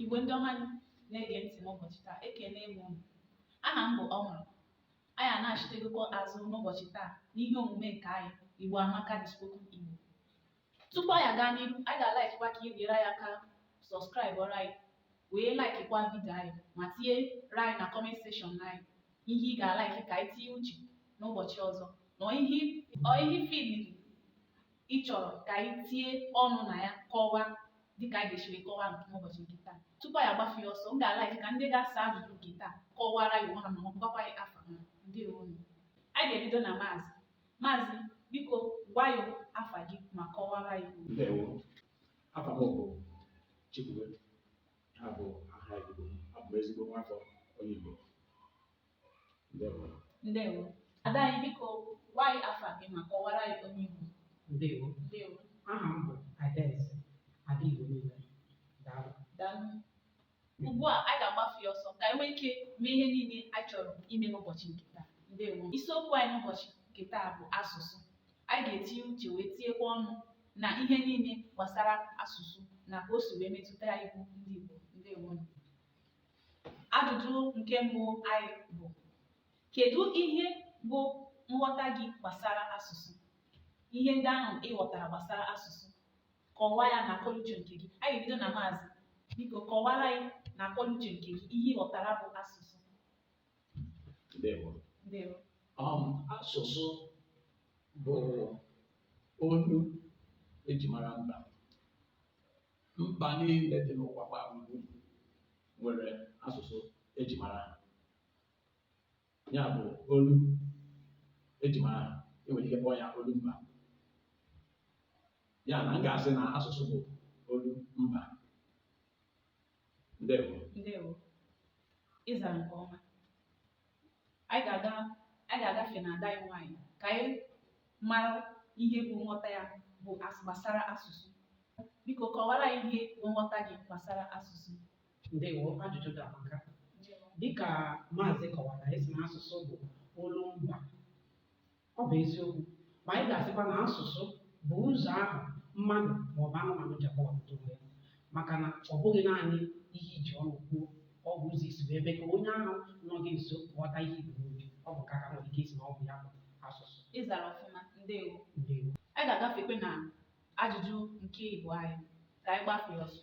Igbo ndị ọma na-ege ntị n'ụbọchị taa ekele m unu aha m bụ ọhụrụ anyị anachitegokwa azụ n'ụbọchị taa n'ihe omume nke anyị Igbo Amaka the Spoken Igbo tupu anyị aga n'ihu anyị ga-alaikikwa ka ị nyere anyị aka sọskraịbụọrọ anyị wee laikikwa vidio anyị ma tinyere anyị na kọment sekshọn anyị ihe ị ga-alaiki ka anyị tinye uche n'ụbọchị ọzọ na ihe ọ ihe ị filiri ị chọrọ ka anyị tinye ọnụ na ya kọwaa dịka anyị ga-esi wee kọwaa nke n'ụbọchị nke taa tupu anyị agbafe ya ọsọ m ga-alaiki ka ndị ga-asa ajụjụ nke taa kọwara anyị onwe ha ma gwakwa anyị afa ha ndewo nu anyị ga-ebido na maazị maazị biko gwa anyị afa gị ma kọwara anyị onye ị bụ ndewo afa m bụ chikwube ha bụ aha igbo abụ m ezigbo nwafọ onye igbo ndewo ada anyị biko gwa anyị afa gị ma kọwara anyị onye ị bụ ndewo ndewo aha m bụ adaeze ada igbo niile daalụ daalụ ugbu a anyị ga-agbafe ya ọsọ ka anyị nwee ike mee ihe niile anyị chọrọ ime n'ụbọchị nke taa ndewo isiokwu anyị n'ụbọchị nke taa bụ asụsụ anyị ga-etinye uche wee tinyekwa ọnụ na ihe niile gbasara asụsụ na ka o si wee metụta anyị bụ ndị igbo ndewo Ajụjụ nke mbụ anyị bụ kedu ihe bụ nghọta gị gbasara asụsụ ihe ndị ahụ ị ghọtara gbasara asụsụ kọwaa ya na akọnuche nke gị anyị bido na maazị biko kọwara anyị na akọnuche nke gị ihe ị ghọtara bụ asụsụ Ndewo. ndewo Um, asụsụ bụ olu e ji mara mba Mba niile dị n'ụwa gbaa gburugburu nwere asụsụ e ji mara ha. Ya bụ olu e ji mara ha. E nwere ike kpọọ ya olu mba. Ya na m ga-asị na asụsụ bụ olu mba. Ndewo. Ndewo. Ị zara nke ọma. anyị ga-aga anyị ga-agafe na ada anyị nwaanyị ka anyị mara ihe bụ nghọta ya bụ as gbasara asụsụ biko kọwara anyị ihe bụ nghọta gị gbasara asụsụ ndewo ajụjụ gị amaka dịka maazị kọwara wee sị na asụsụ bụ olu mba Ọ bụ eziokwu, ma anyị ga-asịkwa na asụsụ bụ ụzọ ahụ mmadụ ma ọ bụ anụmanụ ji akọwapụta onwe ya, maka na ọ bụghị naanị ihe e ji ọnụ kwuo, ọ bụ ụzọ i si wee mee ka onye ahụ nọ gị nso ghọta ihe i bu n'obi. Ọ bụ nke a ka e nwere ike ịsị na ọ bụ ya bụ asụsụ. Ị zara ọfụma, ndewo. Ndewo. Anyị ga-agafekwa na ajụjụ nke ịbụa anyị ka anyị gbafee ọsọ.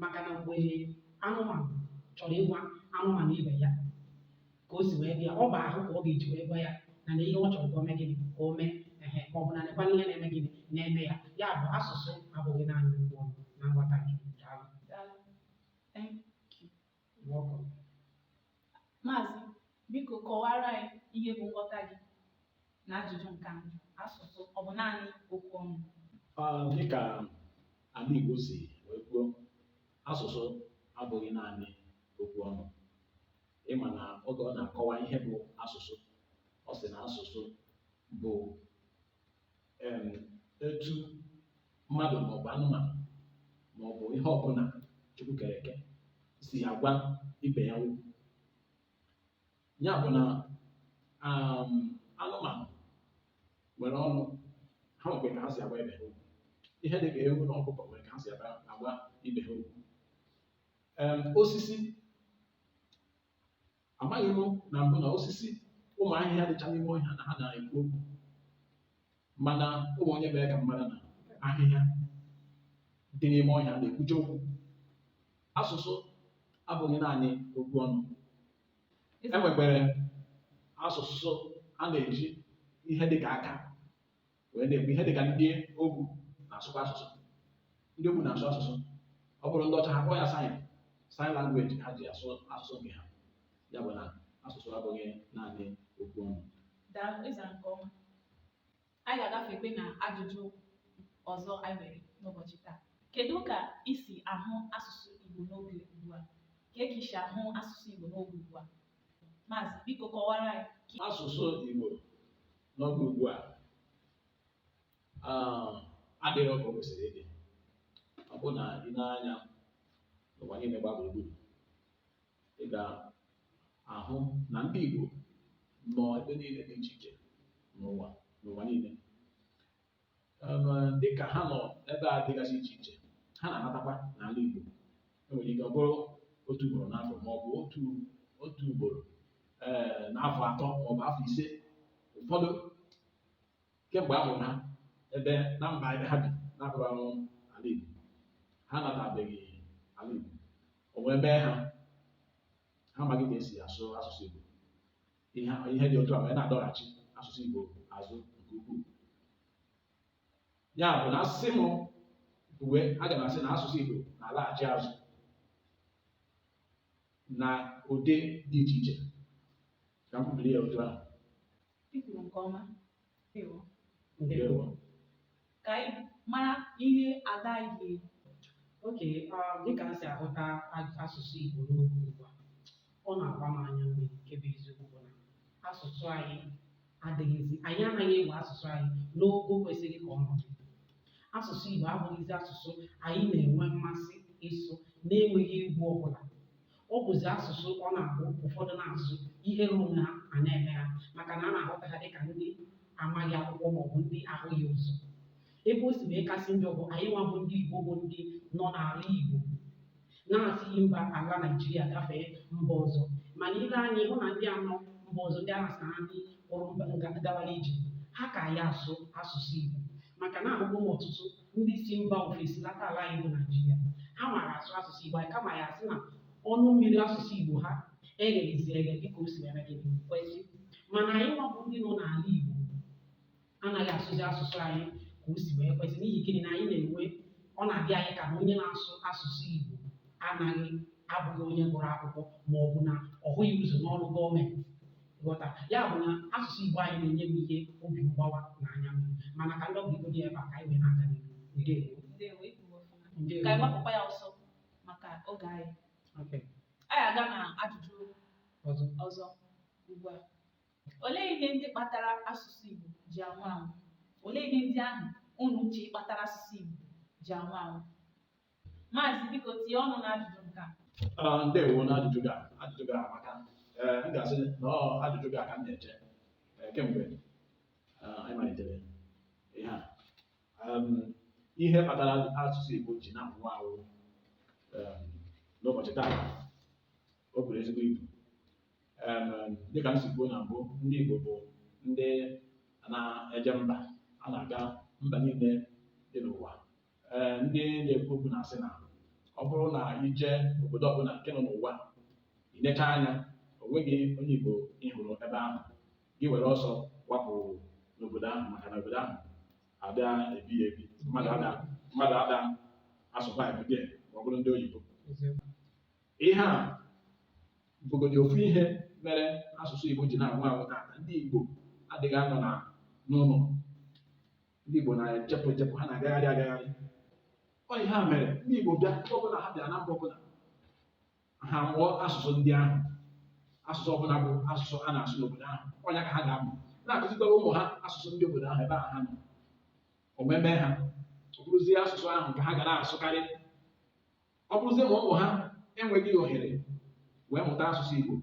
maka na mgbe anụmanụ chọrọ ịgwa anụmanụ ibe ya ka o si wee bịa ọ bụ ahụ ka ọ ga-eji wee gwa ya na nee ihe ọ chọrọ ka o mee gịnị ka o mee ehe ma ọ bụ na nekwa ihe na-eme gịnị na-eme ya ya bụ asụsụ abụghị naanị okwu ọnụ na nghọta nke m daalụ Daalụ. ngwọkọ. Maazị, biko kọwara anyị ihe bụ nghọta gị na ajụjụ nke a. Asụsụ ọ bụ naanị okwu ọnụ? Ah, dịka ala Igbo si wee kwuo, asụsụ abụghị naanị okwu ọnụ. Ịma na oge ọ na-akọwa ihe bụ asụsụ, ọ sị na asụsụ bụ etu mmadụ maọbụ anụmanụ maọbụ ihe ọbụla Chukwu kere eke si agwa ibe ya okwu ya bụ na um, anụmanụ nwere ọnụ ha nwekwe ka ha si agwa ibe ha okwu ihe dị ka ewu na ọkụkọ nwere ka ha si agwa ibe ha okwu osisi Amaghị m na mbụ na osisi ụmụ ahịhịa dịcha n'ime ọhịa na ha na-ekwu okwu mana o nwere onye mere ka m mara na ahịhịa dị n'ime ọhịa na-ekwucha okwu asụsụ abụghị naanị okwu ọnụ e nwekwara asụsụ a na-eji ihe dị ka aka wee na-ekwu ihe dị ka ndị ogbu na-asụkwa asụsụ ndị ogbu na-asụ asụsụ ọ bụrụ ndị ọcha ha kpọọ ya sign sign language ha ji asụ asụsụ nke ha ya bụ na asụsụ abụghị naanị okwu ọnụ Daalụ ị zara nke ọma. Anyị ga-agafekwe na ajụjụ ọzọ anyị nwere n'ụbọchị taa. Kedu ka i si ahụ asụsụ Igbo n'oge ugbu a? Kee ka i si ahụ asụsụ Igbo n'oge ugbu a? Maazị, biko kọwara anyị. asụsụ Igbo n'oge ugbu a ah, adịghị ka o kwesịrị ịdị ọ bụ na ị nee anya n'ụwa niile gbaa gburugburu ị ga-ahụ na ndị Igbo nọ ebe niile dị iche iche n'ụwa n'ụwa niile dịka ha nọ ebe dịgasị iche iche ha na-anatakwa n'ala Igbo enwere ike ọ bụrụ otu ugboro n'afọ ma ọ bụ otu otu ugboro ee n'afọ atọ ma ọ bụ afọ ise ụfọdụ kemgbe a mụrụ ha ebe na mba ebe ha bi na-abụghị ala Igbo ha natabeghị ala Igbo o wee mee ha ha amaghị ka esi asụ asụsụ Igbo ihe ihe dị otu a wee na-adọghachi asụsụ Igbo azụ nke ukwuu ya bụ na a sị m kwue aga m asị na asụsụ Igbo na-alaghachi azụ na ụdị dị iche iche ka m kwubiri ya otu ahụ I kwuru nke ọma. ndewo ka anyị mara ihe ada anyị ga-ekwu okay dịka m si ahụta asụsụ Igbo n'oge ugbu a ọ na-agba m anya mmiri nke bụ eziokwu bụ na asụsụ anyị adịghịzi anyị anaghị ewe asụsụ anyị n'ogo kwesịrị ka ọ nọ asụsụ Igbo abụghịzi asụsụ anyị na-enwe mmasị ịsụ na-enweghị egwu ọbụla ọ bụzi asụsụ ọ na-abụ ụfọdụ na-asụ ihere onwe ha a na-eme ha maka na a na-ahụta ha dịka ndị amaghị akwụkwọ maọbụ ndị ahụghị ụzọ ebe o si wee kasị njọ bụ anyị nwa bụ ndị Igbo bụ ndị nọ n'ala Igbo na-esighị mba ala Naijiria gafee mba ọzọ mana i lee anya ị hụ na ndị a nọ mba ọzọ ndị a na-asị na ha ndị pụrụ mba gawara ije ha ka anyị asụ asụsụ Igbo maka na ahụgo m ọtụtụ ndị si mba ofesi lata ala anyị bụ Naijiria ha maara asụ asụsụ Igbo anyị kama ya asị na ọnụ mmiri asụsụ Igbo ha egheghịzi eghe dịka o si wee kwesị mana anyị nwa bụ ndị nọ n'ala Igbo anaghị asụzi asụsụ anyị ka o si wee kwesị n'ihi gịnị na anyị na-enwe ọ na-adị anyị ka na onye na-asụ asụsụ Igbo anaghị abụghị onye gụrụ akwụkwọ ma ọ bụ na ọ hụghị ụzọ n'ọrụ gọọmenti ghọta ya bụ na asụsụ Igbo anyị na-enye m ihe obi mgbawa na anya mmiri mana ka m dobegodị ebe a ka anyị wee na-aga n'ihu ndewo Ndewo, ị kwuru ọfụma. ndewo Ka anyị gbapụkwa ya ọsọ maka oge anyị. Okay. Anyị aga na ajụjụ ọzọ ọzọ ugbu a. Olee ihe ndị kpatara asụsụ Igbo ji anwụ anwụ? Olee ihe ndị ahụ unu che kpatara asụsụ Igbo ji anwụ anwụ? Maazị biko tinye ọnụ n'ajụjụ nke a. Ah, ndewo n'ajụjụ gị a. ajụjụ gị a amaka ee m ga-asị na ọ ajụjụ gị a ka m na-eche eh, kemgbe ah, anyị malitere ihe a Em, ihe kpatara asụsụ Igbo ji na-anwụ anwụ em, n'ụbọchị taa o buru ezigbo ibu Em, em, dịka m si kwuo na mbụ ndị Igbo bụ ndị na-eje mba a na-aga mba niile dị n'ụwa ee ndị na-ekwu okwu na-asị na ọ bụrụ na i jee obodo ọbụla nke nọ n'ụwa ị necha anya o nweghị onye Igbo ị hụrụ ebe ahụ gị were ọsọ gbapụ n'obodo ahụ maka na obodo ahụ adịghị ebi ya ebi mmadụ ada mmadụ ada a-survive there ma ọ bụrụ ndị oyibo ihe a bụgodi ofu ihe mere asụsụ Igbo ji na-anwụ anwụ taata ndị Igbo adịghị anọ na n'ụlọ ndị Igbo na-ejepụ ejepụ ha na-agagharị agagharị ọ ihe a mere ndị Igbo bịa ebe ọbụla ha bịara na mba ọbụla ha mụọ asụsụ ndị ahụ asụsụ ọbụla bụ asụsụ a na-asụ n'obodo ahụ ọ nya ka ha ga-amụ na-akụzikwara ụmụ ha asụsụ ndị obodo ahụ ebe ahụ ha nọ o wee mee ha ọ bụrụzie asụsụ ahụ ka ha ga na-asụkarị ọ bụrụzie ma ụmụ ha enweghị ohere wee mụta asụsụ Igbo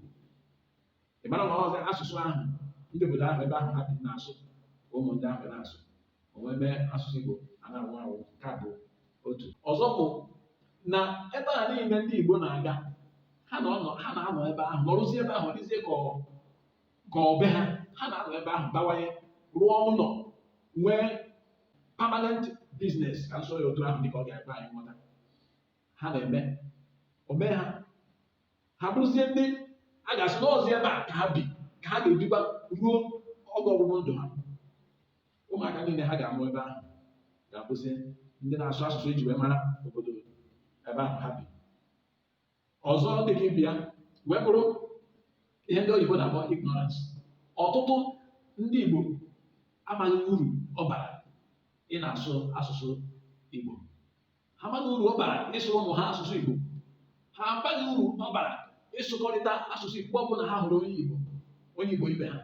ị mara na ọzi asụsụ ahụ ndị obodo ahụ ebe ahụ ha bi na-asụ ka ụmụ ndị ahụ na-asụ o wee mee asụsụ Igbo a na-anwụ anwụ nke a bụ otu ọzọ bụ na ebe a niile ndị Igbo na-aga ha na-anọ ha na-anọ ebe ahụ nọrụzie ebe ahụ dịzie ka ọ ka ọ be ha ha na-anọ ebe ahụ bawanye rụọ ụlọ nwee permanent business ka m sụọ ya otu ahụ dịka ọ ga-ekwe anyị nghọta ha na-eme o mee ha ha bụrụzie ndị a ga-asị na ọzi ebe a ka ha bi ka ha ga-ebikwa ruo oge ọgwụgwụ ndụ ha ụmụaka niile ha ga-amụ ebe ahụ ga-abụzi ndị na-asụ asụsụ e ji wee mara obodo ebe ahụ ha bi ọzọ dị ka ibe ya wee bụrụ ihe ndị oyibo na-akpọ ignorance ọtụtụ ndị Igbo amaghị uru ọ bara ịna-asụ asụsụ Igbo ha amaghị uru ọ bara ịsụrụ ụmụ ha asụsụ Igbo ha amaghị uru ọ bara ịsụkọrịta asụsụ Igbo ọ bụrụ na ha hụrụ onye Igbo onye Igbo ibe ha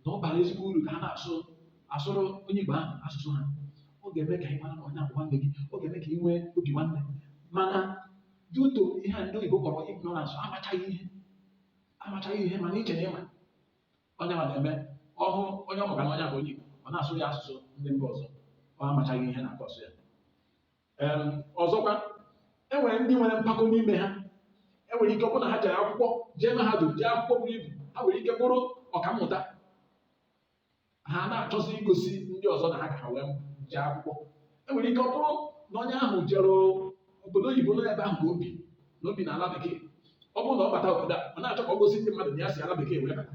na ọ bara ezigbo uru ka ha na-asụ asụrụ onye Igbo ahụ asụsụ ha ọ ga-eme ka ị mara na onye a bụ nwanne gị ọ ga-eme ka ị nwee obi nwanne mana due to ihe a ndị oyibo kpọrọ ignorance amachaghị ihe amachaghị ihe mana iche na ị ma onye ma na-eme ọ hụ onye ọ makwa na onye a bụ onye Igbo ọ na-asụ ya asụsụ ndị mba ọzọ ọ amachaghị ihe na-cause ya ọzọkwa e nwere ndị nwere mpako n'ime ha e nwere ike ọ bụrụ na ha jere akwụkwọ jee mahadum jee akwụkwọ buru ibu ha nwere ike bụrụ ọkammụta ha na-achọzi igosi ndị ọzọ na ha ka ha wee jee akwụkwọ e nwere ike ọ bụrụ na onye ahụ jere obodo oyibo nọ ebe ahụ ka o bi na o bi n'ala bekee ọ bụrụ na ọ bata obodo a ọ na-achọ ka ọ gosi ndị mmadụ na ya si ala bekee wee bata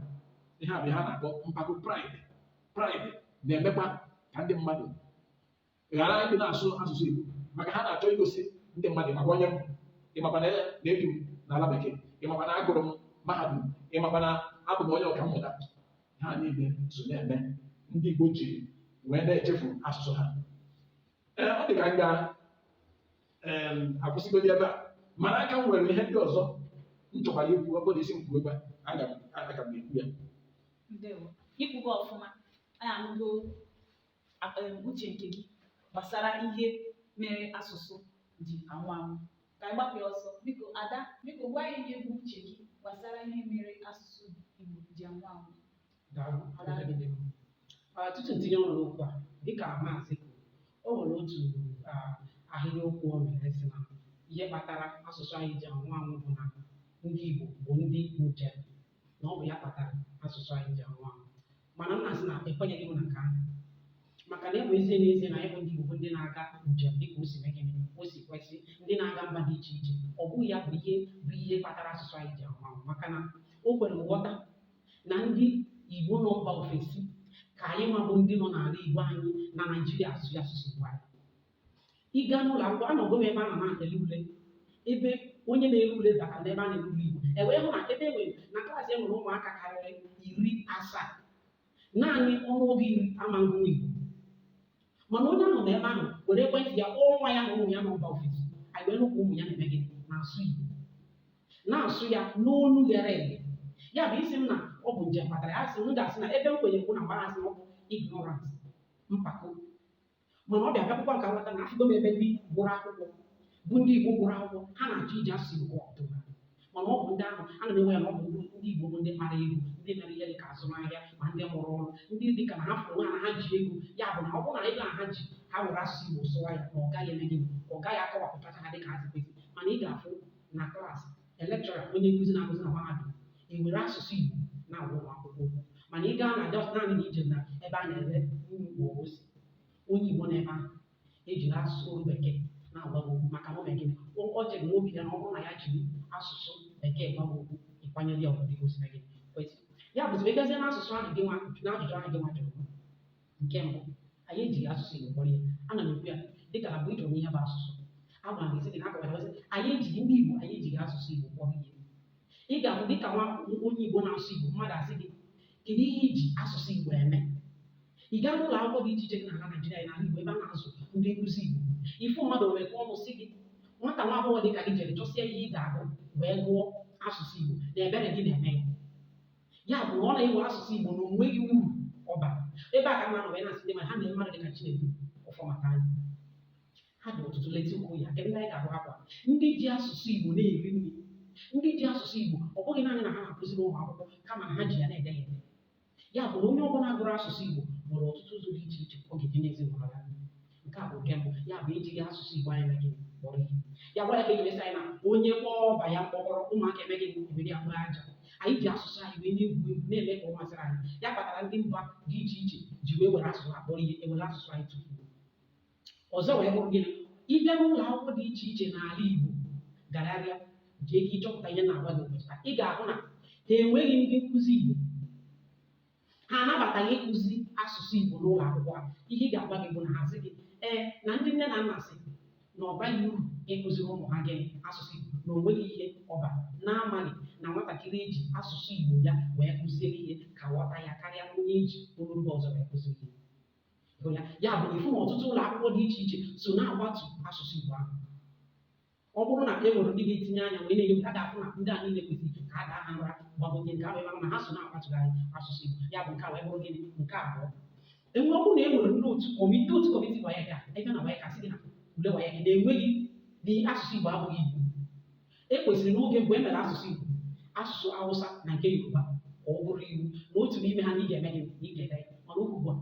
ihe a bụ ihe a na-akpọ mpako pride pride na-emekwa ka ndị mmadụ ghara ịdị na-asụ asụsụ Igbo maka ha na-achọ igosi ndị mmadụ ị makwa onye m ị makwa na na ebi m n'ala bekee ị makwa na agụrụ m mahadum ị makwa na abụ m onye ọkammụta ihe a niile so na-eme ndị Igbo ji wee na-echefu asụsụ ha ee ọ dị ka m ga em, akwụsịgodi ebe a mana aka m nwere ihe ndị ọzọ m chọkwara ikwu ọ bụrụ ị sị m kwuo ebe a aga m aga m ekwu ya ndewo i kwugo ọfụma anyị anụgo uche nke gị gbasara ihe mere asụsụ ji anwụ anwụ ka anyị gbapụ ya ọsọ biko ada biko gwa anyị ihe bụ uche gị gbasara ihe mere asụsụ Igbo ji anwụ anwụ Daalụ, Ada dị mma. Ah, tutu m tinye ọnụ n'okwu a dịka maazị kwuru o nwere otu ah, ahịrịokwu o mere sị na ihe kpatara asụsụ anyị ji anwụ anwụ bụ na ndị Igbo bụ ndị njem na ọ bụ ya kpatara asụsụ anyị ji anwụ anwụ mana m na-asị na ekwenyeghị m na nke ahụ maka na ọ bụ ezie n'ezie na anyị bụ ndị Igbo bụ ndị na-aga njem dịka o si mee gịnị o si kwesị ndị na-aga mba dị iche iche ọ bụghị ya bụ ihe bụ ihe kpatara asụsụ anyị ji anwụ anwụ maka na o kwere nghọta na ndị Igbo nọ mba ofesi ka anyị nwa bụ ndị nọ n'ala Igbo anyị na Naịjirịa asụ ya asụsụ Igbo anyị ịga n'ụlọ akwụkwọ anọgo m ebe a na na-ele ule ebe onye na-ele ule batara n'ebe a na-ele ule igbo e wee hụ na ebe e nwere na klaasị e nwere ụmụaka karịrị iri asaa naanị ọnụọgụ iri amaghị igbo mana onye ahụ nọ ebe ahụ were ekwentị ya kpọọ nwa ya na ụmụ ya nọ mba ofesi anyị wee nụkwa ụmụ ya na-eme gịnị na-asụ igbo na-asụ ya n'olu ghere eghe ya bụ ị sị m na ọ bụ njem kpatara ya sị m ga-asị na ebe m kwenye bụ na mgbe a sị na ọ bụ ignorance mpako mana ọ bịabịakwụkwọ nka nghọta na afụgo m ebe ndị gụrụ akwụkwọ bụ ndị Igbo gụrụ akwụkwọ ha na-achọ iji asụsụ Igbo ọfụma mana ọ bụ ndị ahụ a na-ewe ya na ọ bụ ndị Igbo bụ ndị kpara ego ndị mere ihe dịka azụmahịa ma ndị mụrụ ọrụ ndị dịka na ha fụrụ onwe ha na ha ji ego ya bụ na ọ bụrụ na ego a ha ji ha were asụsụ Igbo sụwa ya na ọ gaghị eme gịnị ọ gaghị akọwapụtacha ha dịka ha si kwesị mana ị ga-afụ na klaasị a lecturer onye nkụzi na-akụzi na mahadum ewere asụsụ Igbo na-agwa ụmụ akwụkwọ okwu mana ị gaa na just naanị na i je na ebe a na-ere nri ma ọ bụ ose onye Igbo nọ ebe ahụ ejiri asụsụ olu bekee na-agwa gị okwu maka na o mere gịnị o o chere n'obi ya na ọ bụrụ na ya jiri asụsụ bekee gwa gị okwu ị kwanyere ya ugwu dịka o si mee gịnị kwesị ya bụzi ị gazie n'asụsụ ahụ gị nwa n'ajụjụ ahụ gị nwa jụrụ nke mbụ anyị ejighị asụsụ Igbo kpọrọ ihe ana m ekwu ya dịka na mbụ ị jụrụ m ihe bụ asụsụ agwara m gị sị gị na akọwara gị sị, anyị ejighị ndị Igbo anyị ejighị asụsụ Igbo kpọrọ ihe ị ga-abụ dịka nwa onye Igbo na-asụ Igbo mmadụ asị gị kedu ihe i ji asụsụ Igbo eme ị gaa n'ụlọ akwụkwọ dị iche iche dị n'ala Naịjirịa na ala Igbo ebe a na-azụ ndị nkụzi Igbo ị fụ mmadụ wee kụọ ọnụ sị gị nwata nwa agbọghọ dị ka gị jere chọsịa ihe ị ga-agụ wee gụọ asụsụ Igbo na ebere gị na-eme ya ya bụ na ọ na-ewe asụsụ Igbo na o nweghị uru ọ ba ebe a ka mmadụ wee na-asị ndị ma ha na mmadụ dị ka Chinedu Ọfọmata anyị ha dị ọtụtụ leta ụkwụ ya kedu ndị anyị ga-agụkwa ndị ji asụsụ Igbo na-eri nri ndị ji asụsụ Igbo ọ bụghị naanị na ha na-akụziri ụmụ akwụkwọ kama na ha ji ya na-ede ya ede ya bụ na onye ọbụla gụrụ asụsụ Igbo nwere ọtụtụ ụzọ dị iche iche ọ ga-eji n'ezinụlọ ya nke a bụ nke mbụ ya bụ ejighị asụsụ igbo anyị mee gịnị kpọrọ ihe ya kpatara e ji wee sị anyị na onye kpọọ ọba ya mkpọkọrọ ụmụaka emee gịnị ewere ya kporo aja anyị ji asụsụ anyị wee na-egwu egwu na-eme ka ọ masịrị anyị ya kpatara ndị mba dị iche iche ji wee were asụsụ ha kpọrọ ihe ewere asụsụ anyị tufuo ọzọ wee bụrụ gịnị ị bịa n'ụlọ akwụkwọ dị iche iche n'ala igbo gagharịa jee ka ị chọpụta ihe m na-agwa gị ụbọchị taa ị ga-ahụ na ha enweghị ndị nkụzi igbo ha anabataghị ịkụzi asụsụ Igbo n'ụlọ akwụkwọ a ihe a ga-agwa gị bụ na ha sị gị ee na ndị nne na nna sị na ọ baghị uru ịkụziri ụmụ ha gịnị asụsụ Igbo na o nweghị ihe ọ ba na-amaghị na nwatakịrị e ji asụsụ Igbo ya wee kụziere ihe ka aghọta ya karịa onye e ji olu mba ọzọ wee kụziere ihe ya ya bụ na ị fụ na ọtụtụ ụlọ akwụkwọ dị iche iche so na-akwatu asụsụ Igbo ahụ ọ bụrụ na e nwere ndị ga-etinye anya wee na-enye ha ga-afụ na ndị a niile kwesịrị ka a daa ha nra gbagote nke ahụ ị mara na ha so na-akpachigharị asụsụ Igbo ya bụ nke a wee bụrụ gịnị nke abụọ enwe ọ bụrụ na e nwere ndị otu kọmiti otu kọmiti WAEC ebe na WAEC sị gị na ule WAEC na-enweghị na asụsụ Igbo abụghị iwu e kwesịrị n'oge mgbe e mere asụsụ Igbo asụsụ Awụsa na nke Yoruba ka ọ bụrụ iwu na otu n'ime ha na ị ga-eme gịnị na ị ga-ede ya mana ugbu ugbu a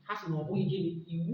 ha sị na ọ bụghị gịnị iwu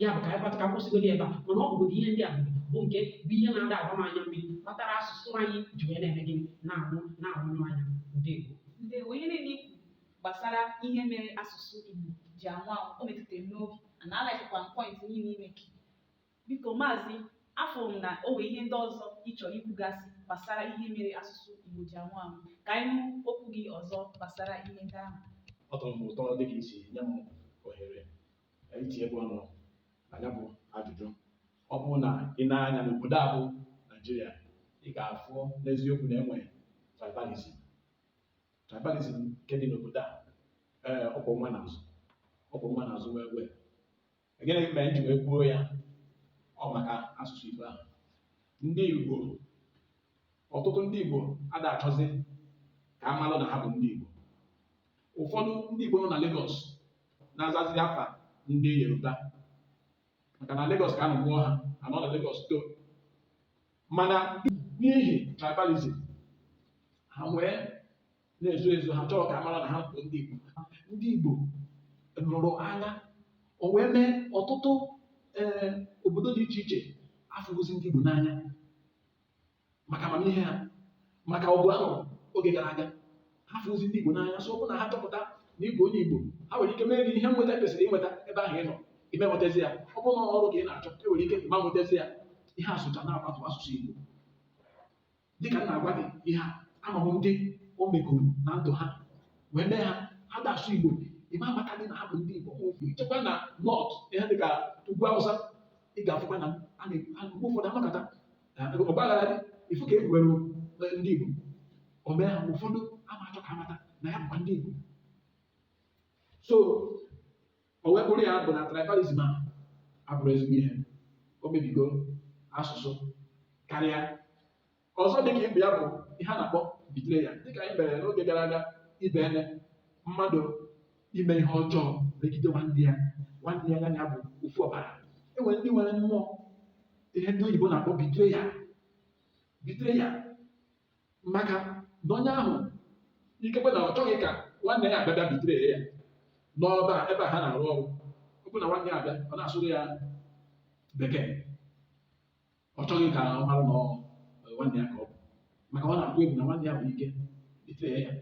ya bụ ka anyị kpata ka kwụsịgodi ebe a mana ọ bụgodị ihe ndị a bụ nke bụ ihe na-ada agba m anya mmiri kpatara asụsụ anyị ji wee na-eme gịnị na-anwụ na-anwụnyụ anya ndewo ihe niile i kwu gbasara ihe mere asụsụ Igbo ji anwụ anwụ o metụtara m n'obi na a likekwa m point niile i make biko maazị afụ m na o nwere ihe ndị ọzọ ị chọrọ ikwugasị gbasara ihe mere asụsụ Igbo ji anwụ anwụ ka anyị nụ okwu gị ọzọ gbasara ihe ndị ahụ ọ tọrọ m ụtọ dịka i si nye m ohere itinyekwa ọnụ na ya bụ ajụjụ ọ bụrụ na i nee anya n'obodo a bụ Naijiria ị ga-afụ n'eziokwu na e nwee tribalism tribalism nke dị n'obodo a ee ọkwọ nwa n'azụ ọkwọ nwa n'azụ wee wee gịnị mere m ji wee kwuo ya ọ maka asụsụ Igbo ahụ ndị Igbo ọtụtụ ndị Igbo ada achọzi ka a malụ na ha bụ ndị Igbo ụfọdụ ndị Igbo nọ na Lagos na-azazi afa ndị Yoruba maka na Lagos ka a nọ mụọ ha ha nọ na Lagos too mana n'ihi tribalism ha wee na-ezo ezo ha achọrọ ka a mara na ha bụ ndị Igbo ndị Igbo lụrụ agha o wee mee ọtụtụ ee obodo dị iche iche afụghịzi ndị Igbo n'anya maka amamihe ha maka ọgụ a lụrụ oge gara aga ha afụghịzi ndị Igbo n'anya so ọ bụrụ na ha chọpụta na ị bụ onye Igbo ha nwere ike mee gị ihe nweta kwesịrị inweta ebe ahụ ị nọ ị ma nwetazi ya ọ bụrụ na ọrụ ka ị na-achọ e nwere ike ị ma nwetazi ya ihe a socha na-akwatu asụsụ Igbo dịka m na-agwa gị ihe a ama m ndị o megoro na ndụ ha wee mee ha ha ada asụ Igbo ị ma amata dị na ha bụ ndị Igbo ma ofu i jekwa na North ihe dịka ugwu Awụsa ị ga-afụkwa na a na- a- mgbe ụfọdụ amakata ọgbaghara dị ịfụ ka e kwuwere ndị Igbo o mee ha ụfọdụ ama achọ ka a mata na ya bụkwa ndị Igbo so o wee bụrụ ya bụ na tribalism a abụrọ ezigbo ihe o mebigo asụsụ karịa ọzọ dịka ibe ya bụ ihe a na-akpọ betrayal dịka anyị mere n'oge gara aga ibe ene mmadụ ime ihe ọjọọ megide nwanne ya nwanne ya ya bụ ofu ọbara e nwere ndị nwere mmụọ ihe ndị oyibo na-akpọ betrayal betrayal maka na onye ahụ ikekwe na ọ chọghị ka nwanne ya abịa bịa betray ya n'ọba a, ebe a ha na-arụ ọrụ ọ bụ na nwanne ya abịa ọ na-asụrụ ya bekee ọ chọghị ka ọ mara na ọ eh, nwanne ya ka ọ bụ maka ọ na-atụ egwu na nwanne ya nwere ike betray ya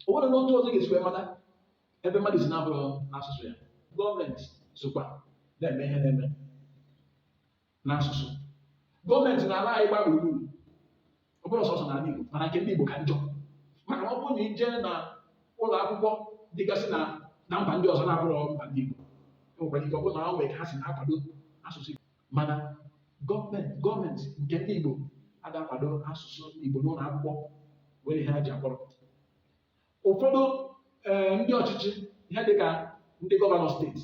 o nwerọ otu ọzọ a ga-esi wee mata ebe mmadụ si na-abụrọ n'asụsụ ya gọọmenti sokwa na-eme ihe na-eme n'asụsụ gọọmenti n'ala anyị gbaa gburugburu ọ bụrọ sọsọ n'ala Igbo mana nke ndị Igbo ka njọ maka na ọ bụrụ na ị jee na ụlọ akwụkwọ dịgasị na na mba ndị ọzọ na-abụrọ mba ndị Igbo e nwekwara ike ọ bụrụ na o nwere ka ha si na-akwado asụsụ Igbo mana gọọmenti gọọmenti nke ndị Igbo ada akwado asụsụ Igbo n'ụlọ akwụkwọ were ihe ha ji kpọrọ ụfọdụ eh, ndị ọchịchị ihe dịka ndị gọvanọ steeti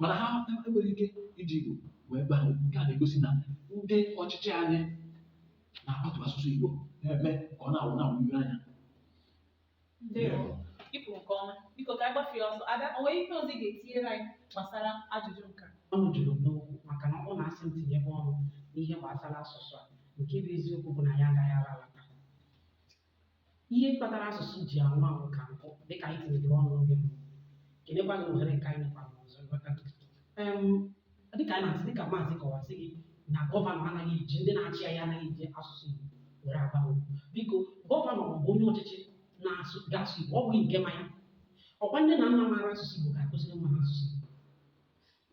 mana ha enwerọ ike iji Igbo wee gba nke a na-egosi na ndị ọchịchị anyị na-akwatu asụsụ Igbo na-eme ka ọ na-anwụ na-anwụ ihu anya Ndewo. I kwuru nke ọma. Biko ka anyị gbafee ọsọ. Ada, o nwere ihe ọzọ ị ga-etinyere anyị gbasara ajụjụ nke a? ọnụ juru m n'okwu maka na ọ bụrụ na a sị m tinyebe ọnụ n'ihe gbasara asụsụ a nke bụ eziokwu bụ na anyị agaghị ala taa Ihe kpatara asụsụ ji anwụ anwụ ka nkụ dịka anyị tinyedoro ọnụ n'oge mbụ. Kelekwa gị na ohere nke a ị nyekwara m ọzọ nghọta gị. Em, dịka anyị na-asị dịka maazi kọwara sị gị na gọvanọ anaghị eji ndị na-achị anyị anaghị eji asụsụ Igbo were agba okwu. Biko gọvanọ ma ọ bụ onye ọchịchị na-asụ ga-asụ Igbo ọ bụghị nke ma ya. Ọkwa nne na nna maara asụsụ Igbo ga-akụziri nwa ha asụsụ Igbo.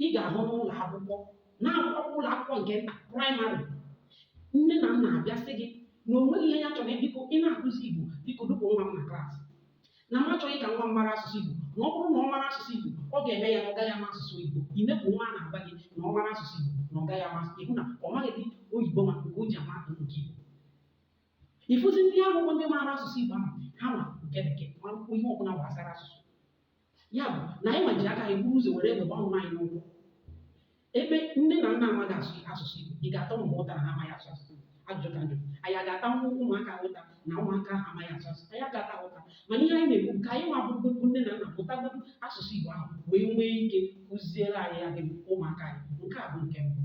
ị ga-ahụ n'ụlọ akwụkwọ na-akwụkwọ ụlọ akwụkwọ nke nta praịmarị nne na nna abịa sị gị na o nweghị ihe ya chọrọ biko ị na-akụzi igbo biko dupụ nwa m na klaasị na m achọghị ka nwa m mara asụsụ igbo na ọ bụrụ na ọ mara asụsụ igbo ọ ga-eme ya na ọ gaghị ama asụsụ igbo ị na-ekwu nwa a na-agwa gị na ọ mara asụsụ igbo na ọ gaghị ama asụsụ igbo na ọ maghịdị oyibo ma nke o ji ama nke igbo ị fụzi ndị ahụ bụ ndị maara asụsụ igbo ahụ ha ma nke bekee ma ihe ọbụla gbasara asụsụ ya bụ na anyị nwa ji aka anyị buru ụzọ were egbe gbaa onwe anyị n'ụkwụ ebe nne na nna amaghị asụ asụsụ Igbo ị ga-ata ụmụ ụta na ha amaghị asụ asụsụ Igbo ajụjụ ka m jụ anyị aga-ata nwa ụmụaka ụta na ụmụaka ha amaghị asụ asụsụ anyị aga-ata ụta mana ihe anyị na-ekwu ka anyị nwa bụrụ bụ nne na nna mụtagodu asụsụ Igbo ahụ wee nwee ike kụziere anyị ya dị ụmụaka anyị nke a bụ nke mbụ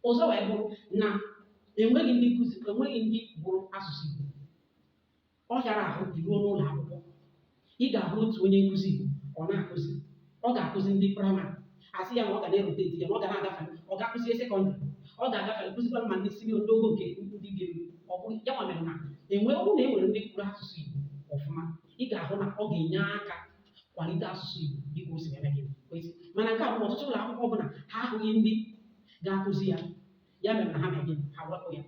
ọzọ wee bụrụ na enweghị ndị nkụzi enweghị ndị gụrụ asụsụ Igbo ọ hịara ahụ i ruo n'ụlọ akwụkwọ ị ga-ahụ otu onye nkụzi Igbo ọ na-akụzi ọ ga-akụzi ndị praịmarị a sị ya na ọ ga na-erute di ya na ọ ga na-agafe ọ ga-akụzie sekọndịrị ọ ga-agafe kụzikwara ma ndị sinio ndị ogo nke ndị ga-eru ọ bụ ya nwa mere na enwe ọ bụrụ na e nwere ndị gụrụ asụsụ Igbo ọfụma ị ga-ahụ na ọ ga-enye aka kwalite asụsụ Igbo dịka o si eme gịnị kwesị mana nke a bụ ọtụtụ ụlọ akwụkwọ bụ na ha ahụghị ndị ga-akụzi ya ya mere na ha mee gịnị ha wepụ ya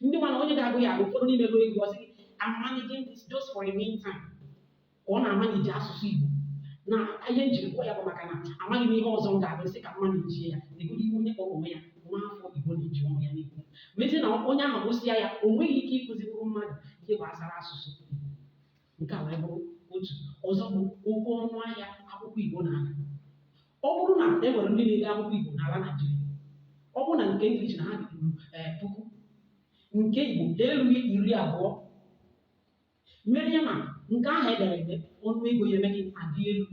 ndị nwa na onye ga-agụ ya agụ ụfọdụ n'ime gụọ egwu ọ sị I'm managing this just for a meantime ka ọ na-amanage asụsụ Igbo na ihe m jiri gụọ ya bụ maka na amaghị m ihe ọzọ m ga-agụ sị ka m manage ya legodo ihe onye kpọrọ onwe ya nwa afọ Igbo na-eji ọnụ ya na-ekwu mezie na onye ahụ gụsịa ya o nweghị ike ịkụzinwuru mmadụ ihe gbasara asụsụ nke a wee bụrụ otu ọzọ bụ oke ọnụ ahịa akwụkwọ Igbo na-ada Ọ bụrụ na e nwere ndị na-ede akwụkwọ Igbo n'ala Naịjirịa, ọ bụrụ na nke English na ha dị ruru ee puku, nke Igbo ha erughị iri abụọ. Mere ya na nke ahụ e dere ede ọnụ ego ya emee gịnị adị elu.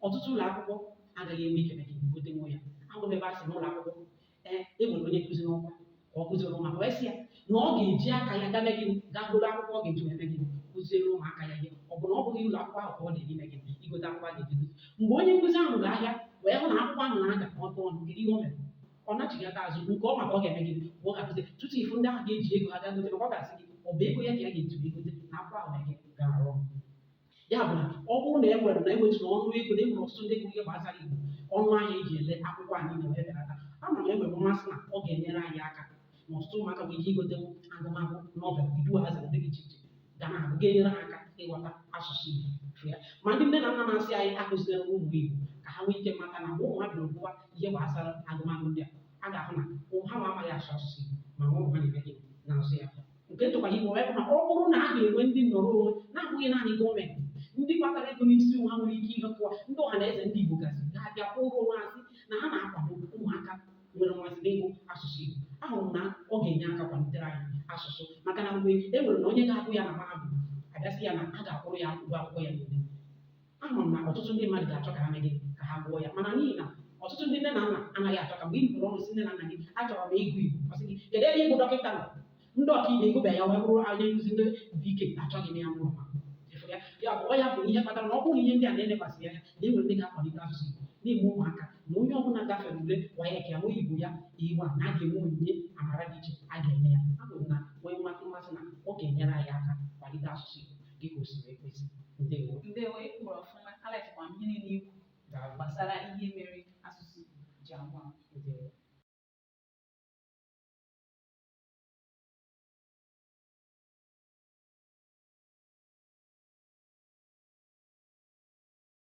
Ọtụtụ ụlọ akwụkwọ agaghị enwe ike ime gịnị gotenwu ya. Ahụla m ebe a sị na ụlọ akwụkwọ ee e weere onye nkụzi n'ọrụ ka ọ kụziere ụmụaka wee sị ya na ọ ga-eji aka ya gaa mee gịnị gaa goro akwụkwọ ọ ga-eji wee mee gịnị kụziere ụmụaka ya ihe ọ bụ na ọ bụghị ụlọ akwụkwọ ahụ ka ọ dịịrị ime gịnị igote akwụkwọ a ga-eji kụzi mgbe onye nkụzi ahụ ruru ahịa wee hụ na akwụkwọ ahụ na-ada oke ọnụ kedu ihe o mere ọ nachighata azụ nke ọ ma ka ọ ga-eme gịnị mgbe ọ ga-akụzi tupu ị fụ ndị ahụ ga-eji ego ha gaa gote maka ọ ga-asị gị ọ bụ ego ya ka ya ga-eji wee gote na akwụkwọ ahụ na e ji ya arụ ọrụ ya bụ na ọ bụrụ na e nwere na e wetụrụ ọnụ ego na enwere ọtụtụ ndị gụrụ ihe gbasara igbo ọnụ ahịa e ji ele akwụkwọ a niile wee belata ama m na enwere mmasị na ọ ga-enyere anyị aka na ọtụtụ ụmụaka nwere ike igotenwu agụmagụ novel iduuazị ndị dị iche iche ga na-agụ ga-enyere ha aka ịghọta asụsụ igbo sụọ ya ma ndị nne na nna na-asị anyị akụziri ụmụ igbo ka ha nwee ike mata na mgbe ụmụ ha bịara gụwa ihe gbasara agụmagụ ndị a a ga-ahụ na ụmụ ha nwa amaghị asụ asụsụ igbo ma ụmụ ha na-eme gịnị na-asụ ya nke tụkwara igbo wee bụrụ na ọ bụrụ na a ga-enwe ndị nnọrọ onwe na-abụghị naanị gọọmenti ndị kpatara ego n'isi ha nwere ike ihe kụwa ndị ọhanaeze ndị igbo gasị ga-abịakọ onwe ha sị na ha na-akwado ụmụaka nwere mmasị n'ịgụ asụsụ igbo ahụrụ m na ọ ga-enye aka kwalitere anyị asụsụ maka na mgbe e nwere na onye ga-agụ ya na mahadum a bịa sị ya na a ga-akwụrụ ya ụgwọ akwụkwọ ya niile Ama m na ọtụtụ ndị mmadụ ga-achọ ka ha mee gịnị ka ha gụọ ya mana n'ihi na ọtụtụ ndị nne na nna anaghị achọ ka mgbe ị bụrụ ọrụ sị nne na nna gị achọrọ m ịgụ Igbo ọ sị gị kedu ebe ịgụ dọkịta nọ ndị ọkaikpe ị gụbeghị ya wee bụrụ onye nkụzi ndị biko achọghị m ya mụrụ ma efu ya ya bụ ọ ya bụ ihe kpatara na ọ bụrụ ihe ndị a na-elekwasị anya na enwere ndị ga-akwalite asụsụ Igbo na-eme ụmụaka na onye ọbụla gafere ule WAEC ya nwee Igbo ya A1 na a ga-enwe onyinye amara dị iche a ga-enye ya ọ bụrụ na enwee mmasị mmasị na ọ ga-enyere anyị aka kwalite asụsụ Igbo dị ka o siri ekwesị ndewo ndewo ị kwuru ọfụma alikekwa m ihe niile i kwu daalụ gbasara ihe mere asụsụ Igbo ji anwụ anwụ ndewo